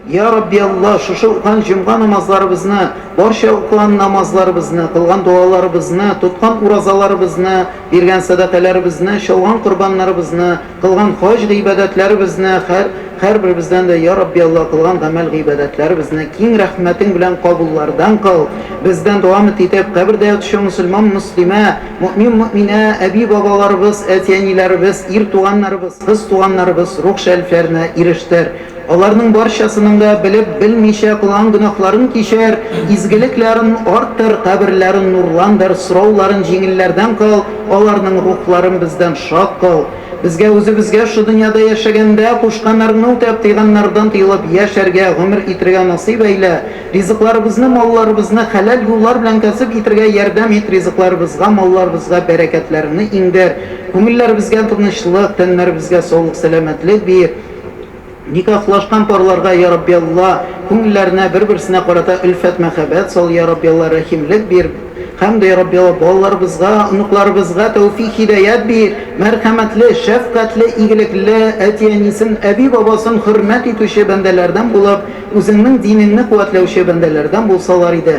Йа Рабби Аллаһ, шушы укыган җомга намазларыбызны, барча укыган намазларыбызны, кылган дуаларыбызны, тоткан уразаларыбызны, биргән сәдакаләребезне, чалган корбаннарыбызны, кылган хаҗ гыйбадәтләребезне, һәр, һәрберебездән дә, йа Рабби Аллаһ, кылган гамәл-гыйбадәтләребезне киң рәхмәтең белән кабуллардан кыл, бездән дәвамт итеп, кабердә ятучы мөселман мөслимә, мөэмин мөэминә, әби-бабаларыбыз, әти-әниләребез, ир туганнарыбыз, кыз туганнарыбыз рух шәрифләренә ирештер. Аларның барчасының да белеп, белмичә кылган гөнаһларын кичер, изгелекләрен арттыр, каберләрен нурландыр, сорауларын җиңелләрдән кыл, аларның рухларын бездән шат кыл. Безгә үзебезгә шу дөньяда яшәгәндә кушканнарыңны үтәп, тыйганнардан тыелып яшәргә, гомер итергә насыйп әйлә. Ризыкларыбызны, малларыбызны хәләл юллар белән кәсеп итергә ярдәм ит, ризыкларыбызга, малларыбызга бәрәкәтләреңне иңдер, күңелләребезгә тынычлык, тәннәребезгә саулык-сәламәтлек бир. Никахлашкан парларга, йа Рабби Алла, күңелләренә бер-берсенә карата өлфәт, мәхәббәт сал, йа Рабби Алла, рәхимлек бир, һәм дә, йа Рабби Алла, балаларыбызга, оныкларыбызга тәүфик-һидәят бир, мәрхәмәтле, шәфкатьле, игелекле, әти-әнисен, әби-бабасын хөрмәт итүче бәндәләрдән булып, Үзеңнең динеңне куәтләүче бәндәләрдән булсалар иде.